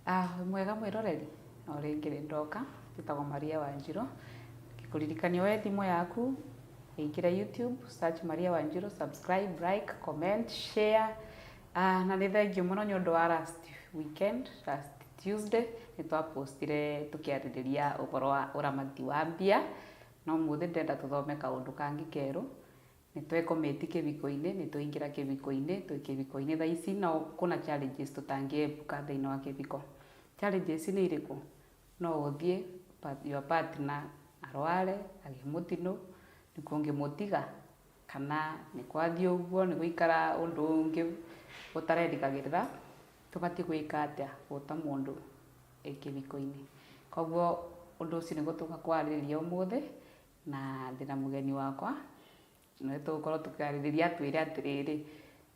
Ah, mwega mwĩroreri o rĩngĩ rĩ ndoka njĩtagwo maria wanjirũ kũririkania we thimũ yaku ĩingĩre youtube search maria wanjirũ subscribe like comment share ah, na nĩ thengiũ mũno nĩ ũndũ wa last weekend last tuesday nĩ twapostire tũkĩarĩrĩria ũhoro wa ũramati wa mbia No ũmũthĩ ndĩrenda tũthome kaũndũ kangĩ kerũ. Nĩ twĩ committee kĩbiko-inĩ, nĩ twaingĩra kĩbiko-inĩ, twĩ kĩbiko-inĩ thaa ici no kũna challenges tũtangĩepuka thĩinĩ wa kĩbiko. Challenges nĩ irĩkũ? No ũthiĩ your partner arware, agĩe mũtino, nĩkuo ũngĩmũtiga. Kana nĩ kwathiĩ ũguo, nĩ gũikara ũndũ ũngĩ ũtarerĩgagĩrĩra, tũbatiĩ gwĩka atĩa o ta mũndũ e kĩhiko-inĩ? Koguo ũndũ ũcio nĩguo tũgũka kwarĩrĩria ũmũthĩ, na ndĩ na mũgeni wakwa, na nĩ tũgũkorwo tũkĩarĩrĩria atwĩre atĩrĩrĩ,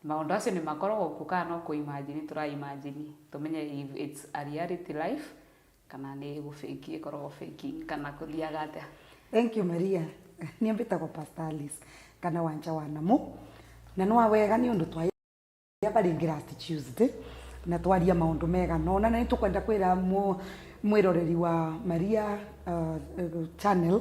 maũndũ acio nĩ makoragwo kuo kana no kũ imagine tũra imagine, tũmenye if it's a reality life Kana nĩ gũbĩngi ĩkoragwo bĩngi kana kũthiaga atĩa? Thank you Maria. Niĩ mbĩtagwo Pastor Alice kana Wanja wa Namũ. Na nĩ wawega nĩ ũndũ twa barĩ Ngirati Tuesday na twaria maũndũ mega no na nĩ tũkwenda kwĩra mwĩroreri wa Maria uh, channel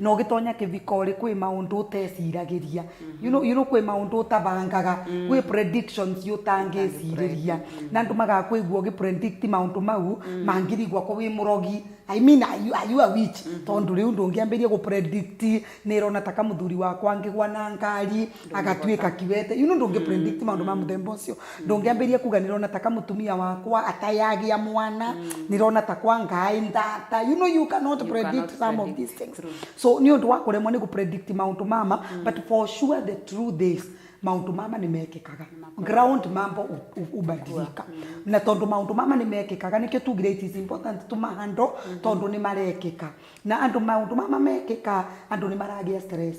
na ũgĩtonya kĩthiko rĩ kwĩ maũndũ ũteciragĩria you know, you know, kwĩ maũndũ ũtabangaga kwĩ predictions ũtangĩcirĩria na andũ magakwĩgua ũgĩ predict maũndũ mau mangĩrigwa ko wĩ mũrogi I mean, are you, are you a witch tondũ rĩu ndũngĩambĩria gũ predict nĩ ĩrona ta kamũthuri wakwa angĩgwa na ngari agatuĩka kiwete you know ndũngĩ mm. predict maũndũ ma mm. mũthemba ũcio mm. ndũngĩambĩrĩria kuga nĩrona taka mũtumia wakwa atayagĩa mwana nĩrona takwa ngaĩ ndata you know you cannot you predict cannot some predict. of these things True. so nĩ ũndũ wa kũremwo nĩ gũpredict maũndũ mama mm. but for sure the truth is maundu mama nä mekekaga ground mambo ubadilika mm. na tondu maundu mama nä mekekaga nä kä tugire it is important to mahando mm-hmm. tondu nä marekeka na andu maundu mama mekeka andu nä maragä stress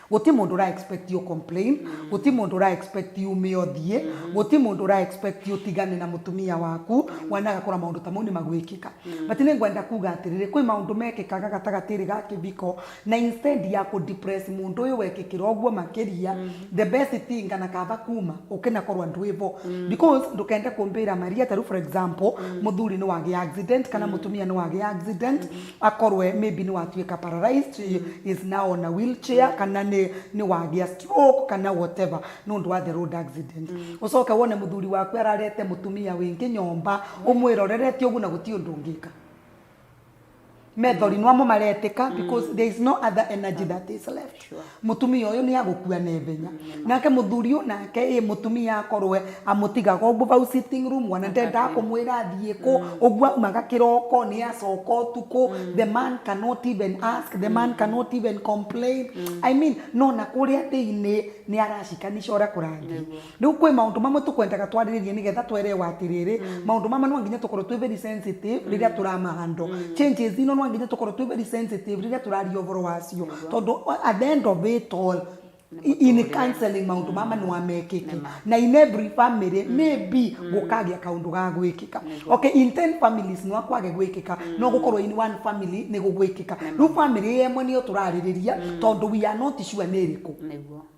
Gũti mũndũ ũra expect ũ complain, gũti mũndũ ũra expect ume ũthiĩ, gũti mũndũ ũra expect ũtigane na mũtumia waku, wana agakora maũndũ ta mau nĩ magwĩkĩka. But nĩ ngwenda kuga atĩrĩrĩ, kwĩ maũndũ mekĩkaga gatagatĩ-inĩ ga kĩbiko, na instead ya kũ depress mũndũ ũyũ wekĩkĩra ũguo makĩria, the best thing kana kaba kuma, ũke na korwo ndwĩ bo. Because ndũkende kũmbĩra Maria, ta rĩu for example, mũthuri nĩ wagĩa accident, kana mũtumia nĩ wagĩa accident, akorwe maybe nĩ watuĩka paralyzed is now on a wheelchair kana nĩ nĩ wagĩa stroke kana whatever nĩ ũndũ wa the road accident ũcoke wone mũthuri waku ararete mũtumia wĩngĩ nyomba ũmwĩrorere ti ũguo na gũti ũndũ ũngĩka methori nĩwamo maretĩka because there is no other energy that is left Mũtumia ũyũ nĩ agũkua na ihenya. Nake mũthuri o nake ĩ mũtumia akorwo amũtigaga ũguo bau sitting room ona ndendaga kũmwĩra athiĩ kũ, ũguo aumaga kĩroko nĩ acoka ũtukũ, the man cannot even ask, the man cannot even complain. I mean no na kũrĩa thĩinĩ nĩ aracikanisha ũrĩa kũrathiĩ. Rĩu kwĩ maũndũ mamwe tũkwendaga twarĩrĩrie nĩgetha twerewa atĩrĩrĩ, maũndũ mama no nginya tũkorwo twĩ very sensitive rĩrĩa tũrama handle. Changes ino no nginya tũkorwo twĩ very sensitive rĩrĩa tũraria ũboro wacio. Tondũ at the end of it all, in counselling maũndũ mama no mekĩke. Na in every family, maybe gũkagĩa kaũndũ ga gwĩkĩka. Okay, in ten families no kwage gwĩkĩka, no gũkorwo in one family nĩ gũgwĩkĩka. Rĩu family ĩyo ĩmwe nĩyo tũrarĩrĩria, tondũ we are not sure nĩ ĩrĩkũ. Nĩguo.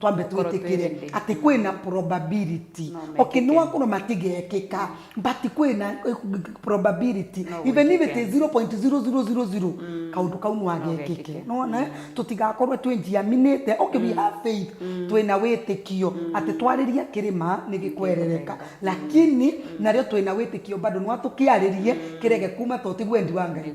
twambe twĩtĩkĩre atĩ kwĩna probability no, okay nĩ wakorwo matigekĩka mm. but kwĩna eh, probability no, even if it is 0.0000 mm. kaũndũ kau no agekĩke nona mm. tũtigakorwo twĩnjiaminĩte okay mm. we have faith mm. twĩna wĩtĩkio mm. atĩ twarĩria kĩrĩma nĩ gĩkwerereka mm. lakini mm. narĩo twĩna wĩtĩkio bado nwa tũkĩarĩrie mm. kĩrege kuma to tiguo endi wa ngai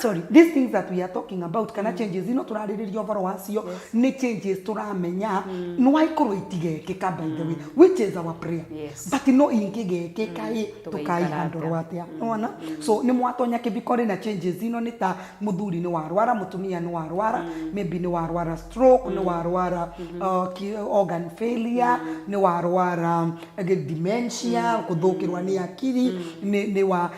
sorry these things that we are talking about kana changes ino turaririria ũhoro wacio nĩ changes turamenya nĩ waikorwo itigekĩka by the way which is our prayer Yes. but no ingĩgekĩka ĩ Tũgĩikara tũkaihandũrwo atĩa nona so nĩ mwatonya kĩbiko rĩ na changes ino nĩ ta mũthuri nĩ warwara mũtumia nĩ warwara maybe nĩ warwara stroke nĩ warwara uh, ki- organ failure nĩ warwara uh, dementia gũthũkĩrwa nĩ akiri nĩ nĩ wa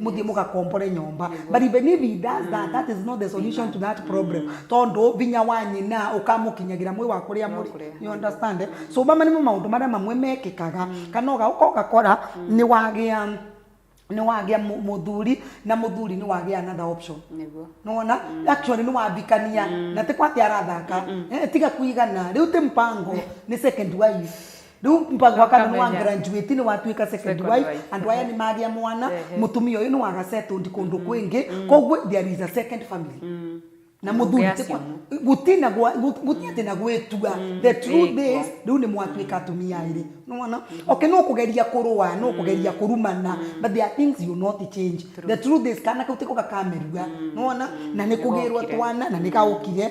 muthiĩ mũgakombore nyũmba but even if he does that that is not the solution to that problem tondũ vinya wa nyina ũkamũkinyagĩra mwĩ wa kũrĩa mũrĩ you understand eh? so mama nĩmo maũndũ marĩa mamwe mekĩkaga kana ũgauka ũgakora nĩ wagĩa nĩ wagĩa mũ- mũthuri na mũthuri nĩ wagĩa another option nĩguo nona actually nĩ wambikania na tĩ kwathi arathaka Eh, tiga kuigana rĩu tĩ mpango nĩ second wife Rĩu Mbagũ akamenya nĩwa graduate nĩwatuĩka second Second wife, wife, andũ aya ehe. nĩmagĩa mwana, Ehe. mũtumia ũyũ nĩwa ga settled kũndũ kwĩngĩ, koguo there is a second family. Na Nyũmba mũthuri ya ti kwa- ciana. gũti na gwa- gũ- gũti atĩ na gwĩtua. The truth Ĩkwa. is, rĩu nĩmwatuĩka atumia erĩ. Nĩwona? Okay, no kũgeria kũrũa, no kũgeria kũrumana, but there are things you not change. The truth is, kana kau tiko gakamerua. Nĩwona? Na nĩkũgĩrwo Nĩgokire. twana, na nĩgaũkire,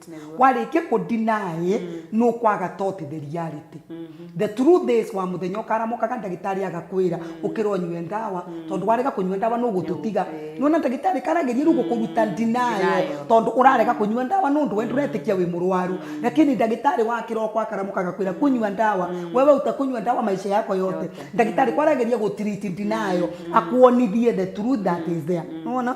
warĩkia kũ deny nĩ ũkwaga tot the reality the truth is wa mũthenya ũkaramokaga ndagĩtarĩ agakwĩra ũkĩra ũnyue ndawa tondũ warega kũnyua ndawa nĩ ũgũtũtiga nĩwona ndagĩtarĩ karageria rĩu gũkũruta denial tondũ ũrarega kũnyua ndawa nĩ ũndũ we ndũretĩkia wĩ mũrwaru lakini ndagĩtarĩ wa kĩroko akaramoka agakwĩra kũnyua ndawa wewe ũtakũnyua ndawa maisha yako yote ndagĩtarĩ ko arageria gũ treat denial akuonithie the truth that is there nĩwona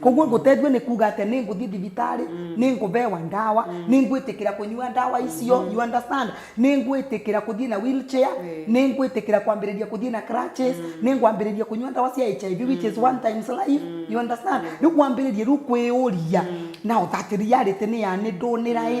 koguo ngũteithio nĩ kuga atĩ nĩ ngũthiĩ thibitarĩ nĩ ngũbewa ndawa nĩ ngwĩtĩkĩra kũnyua ndawa icio you understand nĩ ngwĩtĩkĩra kũthiĩ na wheelchair nĩ ngwĩtĩkĩra kwambĩrĩria kũthiĩ na crutches nĩ ngwambĩrĩria kũnyua ndawa cia HIV which is one times life you understand rĩu wambĩrĩrie rĩu kwĩũria now that reality nĩ ya nĩ ndũnĩra ĩ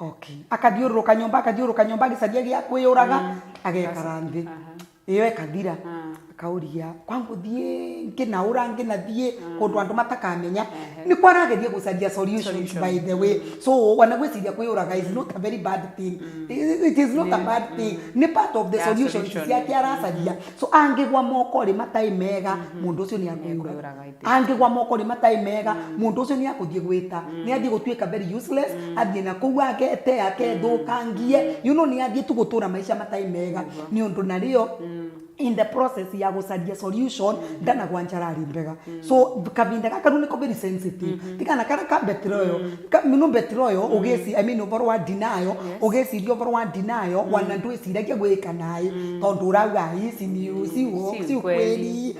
Okay. Akathiũrũrũka nyũmba, akathiũrũrũka nyũmba agĩcaria gĩa kwĩyũraga, agekara thĩ. Ĩyo ĩkathira, akaũria kwa ngũthiĩ ngĩnaũra ngĩnathiĩ kũndũ andũ matakamenya. Nĩkuo arageria gũcaria solutions by the way. So ona gwĩciria kwĩyũraga is not a very bad thing. It is not a bad thing. Nĩ part of the Ya solutions solution. ciake aracaria. So angĩgwa moko-rĩ matarĩ mega, mũndũ ũcio nĩekũĩyũraga. Angĩgwa moko-inĩ matarĩ mega, mũndũ ũcio nĩ egũthiĩ gwĩta. Nĩ athiĩ gũtuĩka very useless, athiĩ na kũu agete, akethũkangie, you know nĩ athiĩ tu gũtũũra maica matarĩ mega. Nĩ ũndũ narĩo, in the process ya gũcaria solution, ndanagwa njara ĩrĩ mbega. So kabinda gaka rĩu nĩko very sensitive. Ti kana karĩa ka betroyal. You know betroyal, ũgĩciria, I mean ũboro wa denial, ũgĩciria ũboro wa denial, wana ndwĩciragia gwĩka naĩ, tondũ ũrauga, aah hii si ni, si ukweli.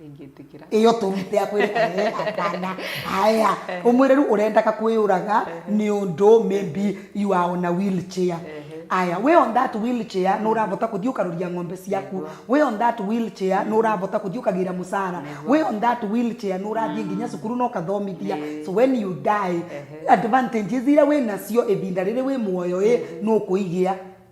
ndingĩtĩkĩra ĩyo tũrute akwĩre "Eh, hapana haya ũmwĩre rĩu ũrendaga kwĩyũraga nĩ ũndũ maybe you are on a wheelchair aya we on that wheelchair nĩ ũrabota kũthiĩ ũkaroria ng'ombe ciaku we on that wheelchair nĩ ũrabota kũthiĩ ũkagĩra mũcara we on that wheelchair nĩ ũrathiĩ nginya cukuru na ũkathomithia so when you die advantages iria wĩ nacio ihinda rĩrĩ wĩ muoyo ĩ nĩ ũkũigĩa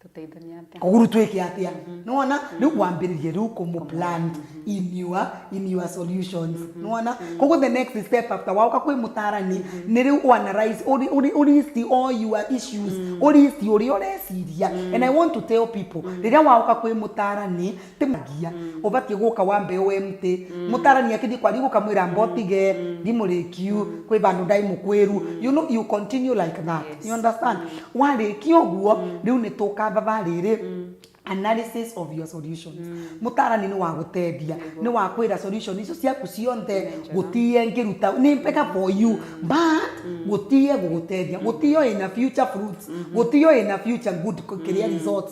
tũteithania atĩa koguru twĩke atia nĩwona rĩu kwambĩrĩria rĩu kũmũ plant in your, in your solutions nĩwona koguo the next step after waũka kwĩ mũtarani nĩ rĩu ũ analyze ũri- ũri- ũristi all your issues ũristi ũrĩa ũreciria and i want to tell people rĩrĩa waũka kwĩ mũtarani Tĩmũragia. Mm. Ũbatiĩ gũka wambe ũwe mtĩ. Mm. Mũtarani akĩthiĩ kwa riu gũkamwĩra mba ũtige. Mm. Ndi mũrĩkiu. Mm. Kwĩ bandũ ndaĩ mũkwĩru. Mm. You know, you continue like that. Yes. You understand? Mm. Warĩkia ũguo, mm. rĩu nĩ tũkababa rĩrĩ. Mm analysis of your solutions mm. mutarani ni wa guteithia ni wa kwira solution icio ciaku cionthe gutie ngiruta ni mpeka for you mm. but mm. gutie guguteithia mm. gutio ina future fruits mm -hmm. gutio ina future good kiria mm. results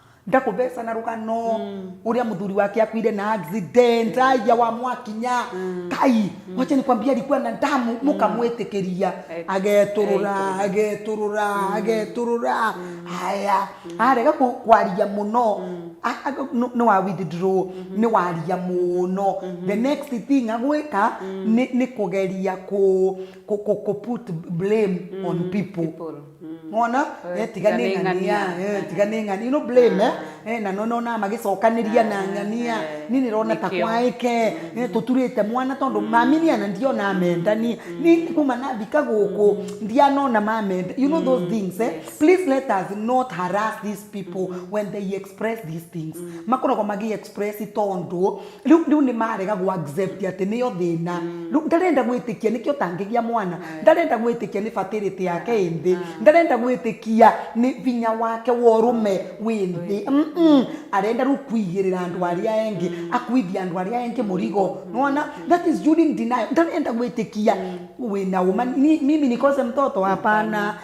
ndakũbeca na rũgano ũrĩa mũthuri wake akuire na accident aya wa mwakinya kai wacha nikwambia alikuwa na damu mũkamwĩtĩkĩria Eh, agetũrũra eh, agetũrũra agetũrũra haya arega kũ- kwaria mũno a- a- nũ- nĩ wa withdraw nĩ waria mũno the next thing agwĩka nĩ nĩ kũgeria kũ kũ- kũ- kũ put blame on people People. mona Eh, eh, tiga nĩ tiga nĩ ng'ania ng'ania. eh, tiga nĩ ng'ania no blame eh, eh, na no nona magĩcokanĩria na ng'ania eh, niĩ nĩrona ta nĩkĩo. kwaĩke eh, tũturĩte mwana tondũ maminia na ndiona mendani nĩ kuma nathika gũkũ ndianona mamenda you know those things eh? please let us not harass these people when they express these things makoragwo magĩ express tondũ rĩu rĩu nĩ marega gwa accept atĩ nĩyo thĩna rĩu ndarenda gwĩtĩkia nĩkĩo tangĩgĩa mwana ndarenda gwĩtĩkia nĩ batĩrĩtĩ yake ĩ thĩ ndarenda gwĩtĩkia nĩ vinya wake wa ũrũme wĩ thĩ Mm, mm. arenda rĩu kuigĩrĩra andũ arĩa engĩ akuithia andũ arĩa engĩ mũrigo nona that is during denial ndarenda gwĩtĩkia wĩna ũma Ni- mimi nikose mtoto hapana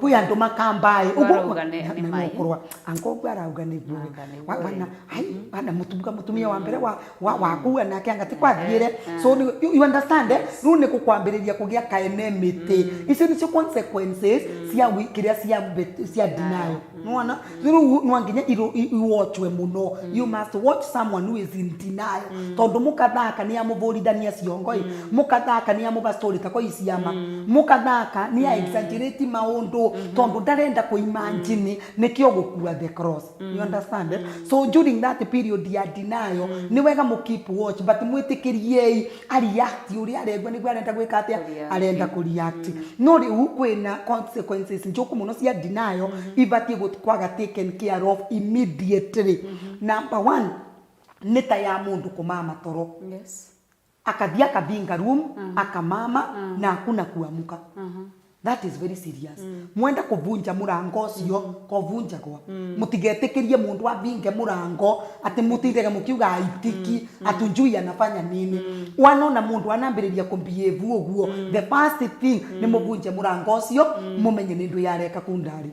kwä andå makambaä Marauga nĩ- nĩ mai. angångå arauga nä guo Anga nĩ guo wana ĩ. ai wana mutumga mutumia wa mbere wa wa wakua nake anga tikwathiire eh. so ni- you you understand eh? riu ni gukwambiriria kugia ka enemy ti icio nicio consequences cia wi- kiria cia bet- cia denial nwana rĩu no nginya irũ- i- iwatchwe mũno you must watch someone who is in denial tondũ mũkathaka nĩ amũbũrithania ciongo ĩ mũkathaka nĩ amũba story ta kwa iciama mũkathaka nĩ a exaggerate maũndũ tondũ ndarenda kũimanjini nĩkĩo gũkua the cross you understand eh? so during that period ya denial nĩ wega mũ keep watch but mwĩtĩkĩriei areact ũrĩa arengwa nĩguo arenda gwĩka atĩa Kũreact. arenda kũreact no rĩu kwĩna consequences njũku mũno cia denial ibatiĩ gũ- kwaga taken care of immediately number one nĩ ta ya mũndũ kũmama toro yes akathiĩ akabinga room akamama na hakuna kuamuka That is very serious. Mwenda kũbunja mũrango ũcio, kobunjagwa. Mũtigetĩkĩrie mũndũ abinge mũrango, atĩ mũtindage mũkiuga aitiki, atunjui anafanya nini. Wanona mũndũ anambĩrĩria kũmbihave ũguo, the first thing nĩ mũbunje mũrango ũcio, mũmenye nĩ ndwĩ areka kũu ndarĩ.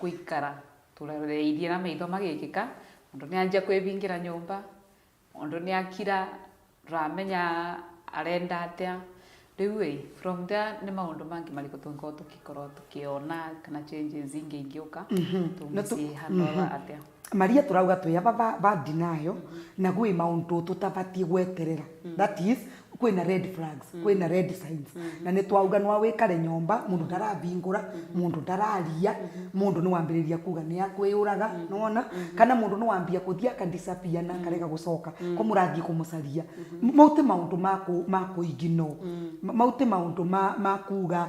Gũikara tũroreirie na maitho magĩkĩka, mũndũ nĩ anjia kwĩbingĩra nyũmba, mũndũ nĩ akira, ndũramenya arenda atĩa. Rĩu ĩ, from there nĩ maũndũ mangĩ marĩkũ tũngĩkorwo tũkĩona kana changes ingĩ ingĩũka tũngĩciĩhanda atĩa? Maria tũrauga twĩ ava va va denial na kwĩ maũndũ tũtavatie gweterera that is kwĩ na red flags kwĩ na red signs na nĩtwauga nwa wĩkale nyũmba mũndũ ndaravingũra mũndũ ndararia mũndũ nĩwambĩrĩria kuga nĩakwĩyũraga nĩwona kana mũndũ nĩwambia kũthi aka disappear na akarega gũcoka ko mũrathie kũmũcaria mau ti maũndũ ma kũ ma kũ ignore mau ti maũndũ ma ma kuga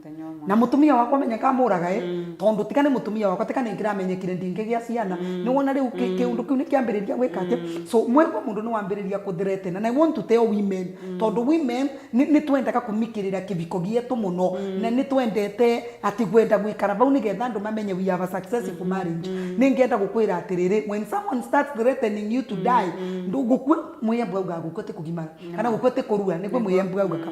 Mũthenya ũmwe. na mutumia wakwa menye kamuraga ĩ tondu tika nĩ mutumia wakwa tika nĩ ngĩramenyekire ndingĩgĩa ciana nĩ wona rĩu kĩ- kĩũndũ kĩu nĩ kĩambĩrĩria gwĩka atĩ so mwĩrĩ wa mũndũ nĩ wambĩrĩria kũthretena na i want to tell women tondu women nĩ nĩ twendaga kumikĩrĩra kĩbiko gĩetũ mũno na nĩ twendete atĩ gwenda gwĩkara bau nĩgetha andũ mamenye we have a successful marriage nĩ ngenda gũkwĩra atĩrĩrĩ when someone starts threatening you to die ndũ- gũkua mwĩyembu augaga gũkua ti kũgimara kana gũkua ti kũrua nĩguo mwĩyembu augaga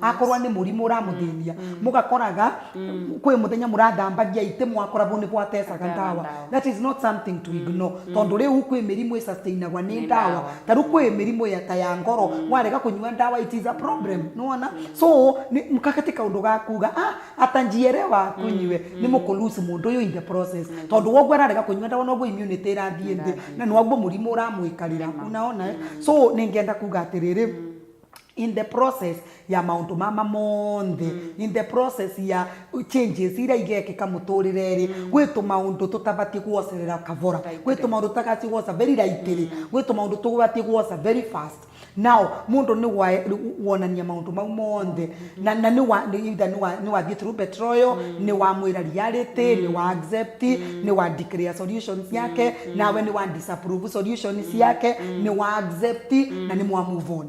akorwo nĩ mũrimũ ũramũthĩnia mũgakoraga kwĩ mũthenya mũrathambagia itĩ mwakoragwo nĩ gwatecaga Gwatecaga ndawa ndawa. that is not something to ignore tondũ rĩu kwĩ mĩrimũ ĩsustainagwa nĩ Nĩ ndawa ndawa. ta rĩu kwĩ mĩrimũ ya ta ya ngoro warega kũnyua ndawa it is a problem nĩwona so nĩ- mkakati kaũndũ ga kuga ah ata njielewa kunyue nĩ mũkũ lose mũndũ ũyũ in the process tondũ woguo ararega kũnyua ndawa noguo immunity ĩrathiĩ thĩ Ĩrathiĩ. na noguo mũrimũ ũramwĩkarĩra Nĩma. unaona eh? so nĩngenda kuga atĩrĩrĩ in the process ya maũndũ mama monthe mm. in the process ya changes iria igekĩka mũtũrĩre-rĩ mm. gwĩ tũmaũndũ tũtabatiĩ gwocerera kabora gwĩ tũmaũndũ tũtabatiĩ gwoca very lightly mm. gwĩ tũmaũndũ tũtabatiĩ gwoca very fast now mũndũ nĩ wonania maũndũ mau monthe mm. na, na nĩ wathiĩ through betroyo mm. nĩ wamwĩra reality mm. nĩ wa accept mm. nĩ wa declare solutions yake mm. nawe nĩ wa disapprove solutions mm. yake mm. nĩ wa accept mm. na nĩ mwa move on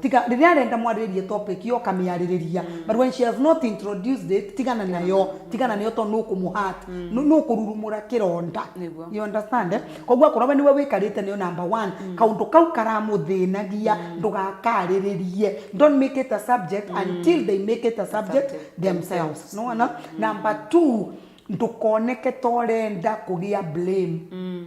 tiga rĩrĩa arenda mwarĩrĩrie topic yo kamĩarĩrĩria mm. but when she has not introduced it tigana nayo mm. tigana nayo tondũ nũkũmũhat mm. nũkũrurumũra kĩronda you understand eh? mm. koguo akorwo we nĩwe wĩkarĩte nayo number one mm. kaũndũ kau karamũthĩnagia mm. ndũgakarĩrĩrie don't make it a subject mm. until they make it a subject, subject themselves no na mm. number two ndũkoneke torenda kũgĩa blame mm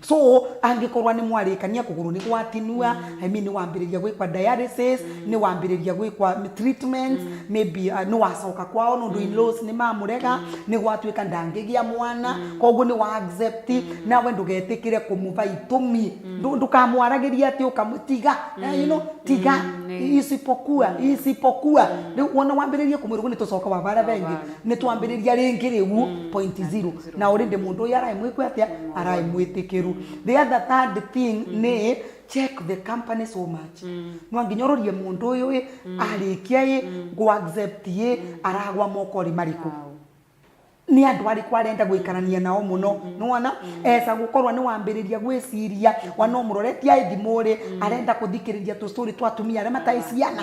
so angĩkorwa nĩ mwarĩkania kũgũrũ nĩ gwatinua I mean, nĩ wambĩrĩria gwĩkwa dialysis nĩ wambĩrĩria gwĩkwa treatment maybe uh, nĩ wacoka kwao nũndũ in-laws nĩ mamũrega nĩ gwatuĩka ndangĩgĩa mwana koguo nĩ wa accept nawe ndũgetĩkĩre kũmũva itũmi Ndũ- ndũkamwaragĩria atĩ ũkamwĩ tiga eh, you know, tiga isipokuwa isipokuwa rĩu wona wambĩrĩria kũmwĩrwo nĩ tũcoka wavara vengĩ nĩ twambĩrĩria rĩngĩ rĩu point zero na already mũndũ ũyũ araĩ mwĩkwe atĩa araĩ mwĩtĩkĩru the other third thing nĩ check the company so much no nginya ũrorie mũndũ ũyũ ĩ arĩkia ĩ ngũ accept ĩ aragwa mokorĩ marĩkũ nĩ andũ arĩkũ arenda gwĩkarania nao mũno nĩwona esa gũkorwo nĩ wambĩrĩria gwĩciria wana ũmũroretie aĩ thimũ-rĩ arenda kũthikĩrĩria tũcũrĩ twa atumia arĩa mataĩ ciana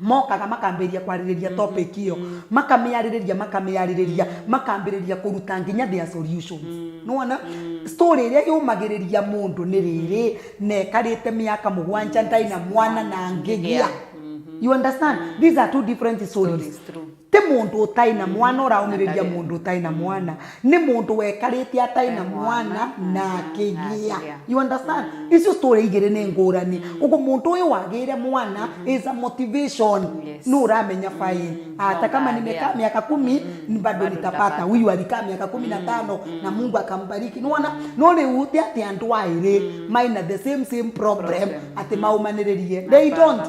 mokaga makambĩrĩria kwarĩrĩria mm-hmm. topic ĩyo mm-hmm. makamĩarĩrĩria makamĩarĩrĩria mm-hmm. makambĩrĩria kũruta nginya their solutions nĩwona story ĩrĩa yũmagĩrĩria mũndũ nĩ rĩrĩ na ĩkarĩte mĩaka mũgwanja ndarĩ na mwana na ngĩgĩa you understand these are two different stories Ti mũndũ ũtarĩ na mwana ũraũmĩrĩria mũndũ ũtarĩ na mwana nĩ mũndũ wekarĩte atarĩ na mwana na akĩgĩa you understand icio story igĩrĩ nĩ ngũrani ũguo mũndũ ũyũ wagĩire mwana is a motivation Yes. nũ uramenya fine hata kama Mwangalia. nimekaa miaka kumi bado Bado nitapata nitapata. huyu alikaa miaka kumi na tano na mungu akambariki nona no rä u tä atä andå aä rä maina the same same problem Problem. atä maumanä rä rie they Hapana. don't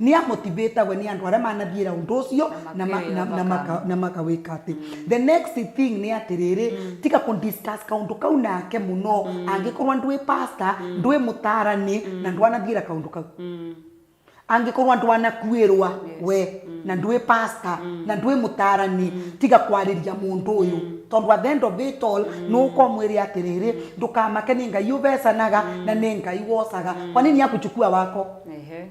Nĩ a motivate agwo nĩ andũ arĩa manathiĩra ũndũ ũcio na ma- makĩwĩra na- na thakame. maka- na makawĩka atĩ the next thing nĩ atĩrĩrĩ tiga kũ discuss kaũndũ kau nake mũno angĩkorwo ndwĩ pastor ndwĩ mũtarani na ndwanathiĩra kaũndũ kau angĩkorwo ndwanakuĩrwa we na ndwĩ pastor na ndwĩ mũtarani tiga kwarĩria mũndũ ũyũ tondũ at the end of it all nĩ ũkomwĩre atĩrĩrĩ ndũkamake nĩ ngai ũvecanaga na nĩ ngai wocaga kwa nini akuchukua wako Ehe.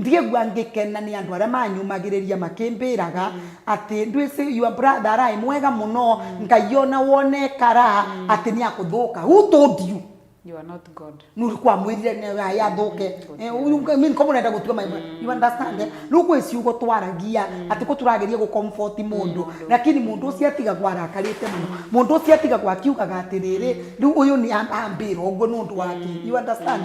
Ngĩigua ngĩkena nĩ andũ arĩa maanyũmagĩrĩria makĩmbĩraga atĩ Ndwĩsĩ, your brother araĩ mwega mũno, Ngai o na wone ekara, atĩ nĩ akũthũka. Who told you? You are not God. Nũ ũkwamwĩrire nĩ araĩ athũke? Eh, you mean ko mũrenda gũtua ma- You understand? eh? Rĩu gwĩ ciugo twaragia atĩ ko tũrageria gũ comfort mũndũ lakini mũndũ ũcio atigagwo arakarĩte mũno. Mũndũ ũcio atigagwo akiugaga atĩrĩrĩ, rĩu ũyũ nĩ a- ambĩra ũguo nĩ ũndũ wa kĩ? You understand?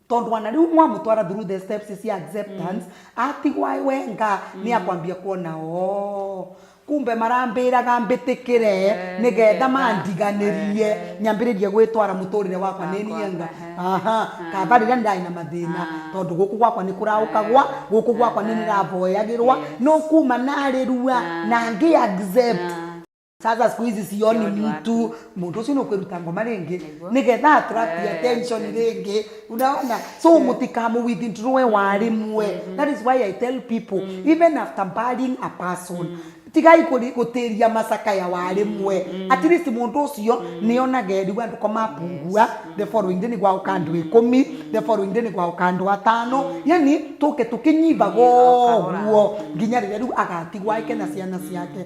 Tondũ ana rĩu mwamũtwara through the steps cia acceptance atigwa e wenga nĩ akwambia kuona oo kumbe marambĩraga mbĩtĩkĩre nĩgetha mandiganĩrie nyambĩrĩrie gwĩtwara mũtũrĩre wakwa nĩ niĩ nga aha kaba rĩrĩa ndarĩ na mathĩna tondũ gũkũ gwakwa nĩ kũraũkagwa gũkũ gwakwa nĩ nĩraboyagĩrwa nĩ kuma narĩrua na ngĩ accept sasa siku hizi sioni Sioni mtu watu. mundu ucio nukwiruta ngoma ringi Niguo. nigetha attract Eh, attention yes. ringi unaona so mutikamu withdrawe warimwe that is why i tell people even after burying a person tigai kuri- gutiria masaka ya warimwe at least mundu ucio nionage riu andu komapungua the following day nigwauka andu ikumi the following day nigwauka andu atano yani tuke tukinyimbaga Kahora. ũguo nginya rĩrĩa rĩu agatigwo ake na ciana ciake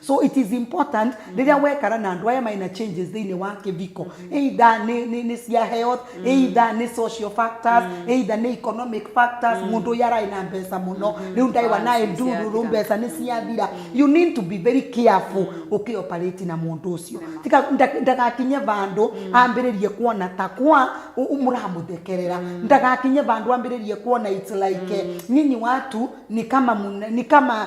so it is important rĩrĩa wekara na andũ aya marĩ na changes thĩinĩ wa kĩbiko either nĩ, nĩ, nĩ cia health either nĩ social factors either nĩ economic factors mũndũ ũyũ ararĩ na mbeca mũno rĩu ndarĩ wa naye Balance ndururu ciathira. mbeca nĩ ciathira you need to be very careful ũkĩoperate na mũndũ ũcio Tika- nda- ndagakinye bandũ ambĩrĩrie kuona ta kwa ũ- ũ- mũramũthekerera ndagakinye bandũ ambĩrĩrie kuona it's like eh, nyinyi watu ni kama muna- ni kama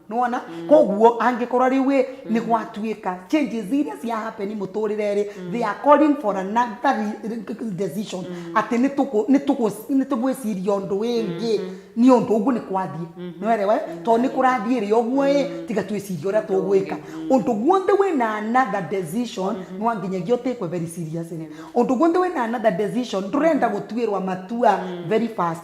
nona koguo angĩkorwo rĩu ĩ nĩ gwatuĩka changes iria cia happen mũtũrĩre-rĩ they are calling for another re- re- decision atĩ nĩ tũkũ- nĩ tũkũ- nĩ tũgwĩciria ũndũ wĩngĩ nĩ ũndũ ũguo nĩ kwathiĩ nĩwerewa tondũ nĩ kũrathiĩ rĩ ũguo ĩ tiga twĩcirie ũrĩa tũgwĩka ũndũ guothe wĩna another decision nĩ wanginyagia ũtĩkwe very seriously ũndũ guothe wĩna another decision ndũrenda gũtuĩrwa matua very fast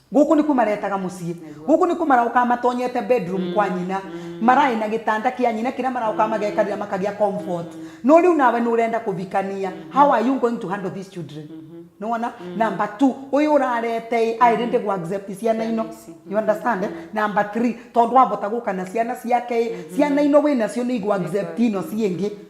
Gũkũ nĩkuo maretaga mũciĩ. Gũkũ nĩkuo maraũkaga matonyete bedroom kwa nyina. Maraĩ na gĩtanda kĩa nyina kĩrĩa maraũkaga magekarĩra makagĩa comfort. No rĩu nawe nĩũrenda kũbikania. How are you going to handle these children? Nĩwona? Number two, ũyũ ũrarete-ĩ, aĩ ready kũ accept ciana ino? You understand? Number three, tondũ abota gũka na ciana ciake-ĩ, ciana ino wĩnacio nĩigũ accept ino ciĩngĩ.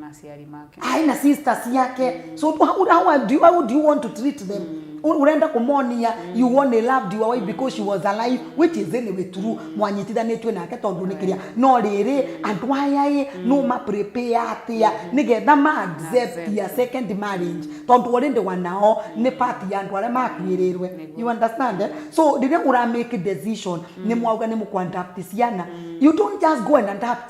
na ciari make ai na sister ciake so how, how, how, do you, how do you want to treat them U- urenda kumonia you only loved your wife because she was alive which is anyway true mwanyitithanĩtue nake tondũ nĩ kĩrĩa no rĩrĩ andũ aya ĩ no ma prepare atĩa nĩgetha ma accept ya second marriage tondũ already wanao nĩ part ya andũ arĩa makuĩrĩirwe you understand eh? so rĩrĩa ũra make decision nĩ mwauga nĩ mũkwandapt ciana you don't just go and adapt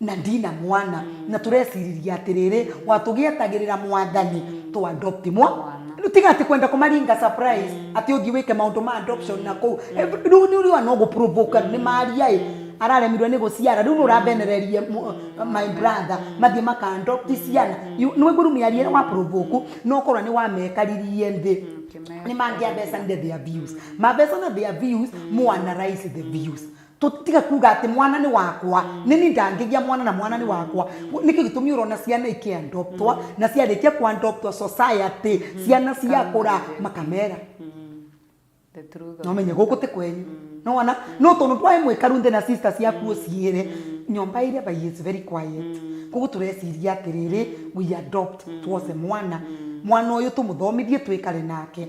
na ndina mwana na tũreciriria atĩrĩrĩ watũgĩetagĩrĩra mwathani tũ adopt mwa Mwana. rĩu tiga atĩ kwenda kũmaringa surprise atĩ ũthiĩ wĩke maũndũ ma adoption na kũu Eh, rĩu nĩ ũrĩa no gũprovoke nĩ maria ĩ araremirwo nĩ gũciara rĩu nĩ ũrabenereria mũ- my brother mathiĩ maka adopt ciana You- nĩ waigua rĩu mĩario ĩrĩa wa provoke no ũkorwo nĩ wamekaririe thĩ Ũkĩmeka. nĩ mangĩabecanire their views mabecana their views more analyze the views tutiga kuga ati mwana ni wakwa nini ndangigia mwana na mwana ni wakwa nikio gitumi urona ciana iki adoptwa na ciarikia ku adoptwa society ciana ciakura makamera The truth of- no menye guku ti kwenyu no wana no tondu twae mwikaru nthi na sister ciaku uciire nyomba iria by is very quiet koguo tureciria atiriri we adopt twose mwana mwana uyu tumuthomithie twikare nake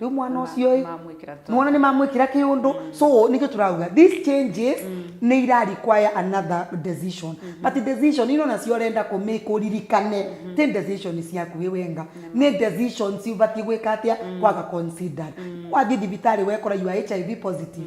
rĩu mwana Na ma- ũcio ĩ mamwĩkĩra to- mwana nĩ mamwĩkĩra kĩũndũ so nĩkĩo tũrauga these changes nĩ ira require another decision but decision ino nacio ũrenda kũmake ũririkane ti decision ciaku wĩ wenga nĩ decision ciũbatiĩ gwĩka atĩa kwaga considered wathiĩ thibitarĩ wekora you are hiv positive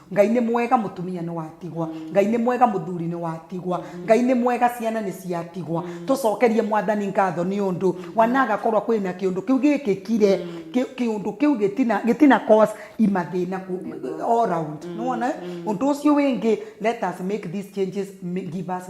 Ngai nĩ mwega mũtumia nĩ watigwa. Ngai nĩ mwega mũthuri nĩ watigwa. Ngai nĩ mwega ciana nĩ ciatigwa. Tũcokerie mwathani ngatho nĩ ũndũ wanagakorwa kwĩ na kĩũndũ kĩu gĩkĩkire kĩũndũ kĩu gĩtina cause mathĩna all round. Nĩ wona? Ũndũ ũcio wĩngĩ let us make these changes give us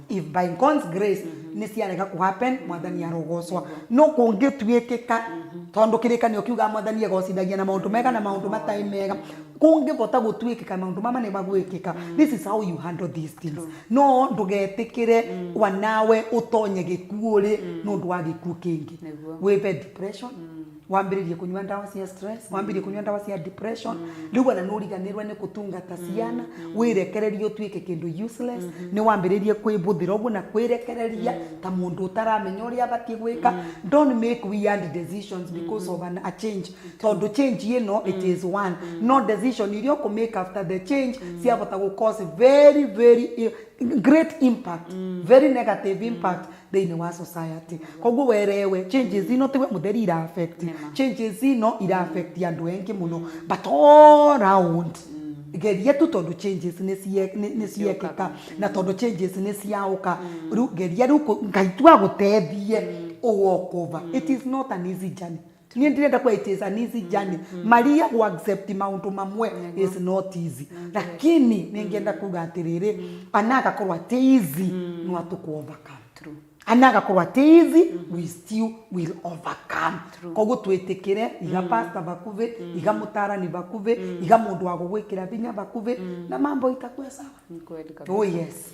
if by God's grace nĩ ciarega kũ happen mwathani arogocwa no kũngĩtuĩkĩka tondũ kĩrĩkanĩro kiugaga mwathani egocithagia na maũndũ mega na maũndũ matarĩ mega kũngĩhota gũtuĩkĩka maũndũ mama nĩ magwĩkĩka this is how you handle these things no ndũgetĩkĩre wanawe ũtonye gĩkuũ rĩ nĩ ũndũ wa gĩkuũ kĩngĩ Nĩguo. wĩve depression wambĩrĩrie kũnyua ndawa cia stress wambĩrĩrie kũnyua ndawa cia depression rĩu ona nĩ ũriganĩrwo nĩ kũtungata ciana wĩrekererie ũtuĩke kĩndũ useless nĩ wambĩrĩrie kwĩbũthĩra ũguo na kwĩrekereria ta mũndũ ũtaramenya ũrĩa abatiĩ gwĩka don't make weird decisions because of an, a change tondũ change ĩno it is one no decision iria ũkũ make after the change ciahota gũ cause very very i- great impact very negative impact thĩinĩ wa society koguo werewe changes ino tiwe mũtheri ira affect Nĩma. changes ino ira affect andũ engĩ mũno but all round geria tu tondũ changes nĩ cie- nĩ- nĩ ciekĩka na tondũ changes nĩ ciaũka rĩu geria rĩu kũ- ngai tu agũteithie ũwalk over it is not an easy journey niä ndĩrenda kweitĩsa nisi jani maria kuaccept maũndũ mamwe is not easy lakini nĩngĩenda kuga atĩrĩrĩ ana agakorwo atĩ easy no atũkũ overcome True. ana agakorwo atĩ easy we still will overcome koguo twĩtĩkĩre iga pasta vakuvĩ iga mũtarani vakuvĩ iga mũndũ wa gũgwĩkĩra vinya vakuvĩ na mambo itakuwe sawa Ni kweli kabisa. oh yes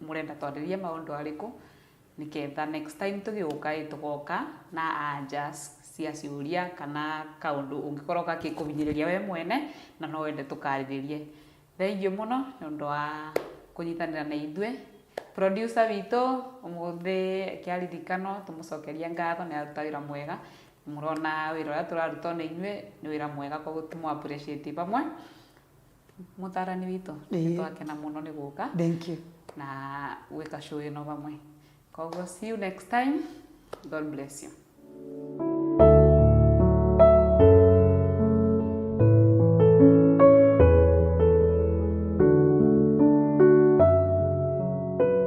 Mũrenda twarĩrie maũndũ arĩkũ nĩketha next time tũgĩũka ĩ tũgoka na anja cia ciũria kana kaũndũ ũngĩkorwo gagĩkũhinyĩrĩria we mwene na no wende tũkarĩrĩrie. Thengiũ mũno nĩ ũndũ wa kũnyitanĩra na ithuĩ. Producer witũ ũmũthĩ akĩaririkana tũmũcokerie ngatho nĩ araruta wĩra mwega. Mũrona wĩra ũrĩa tũraruta ona inyuĩ nĩ wĩra mwega koguo tũmũ appreciate hamwe. Mũtarani witũ nĩ twakena mũno nĩ gũka na gwĩka show ĩno vamwe. Koguo see you next time. God bless you.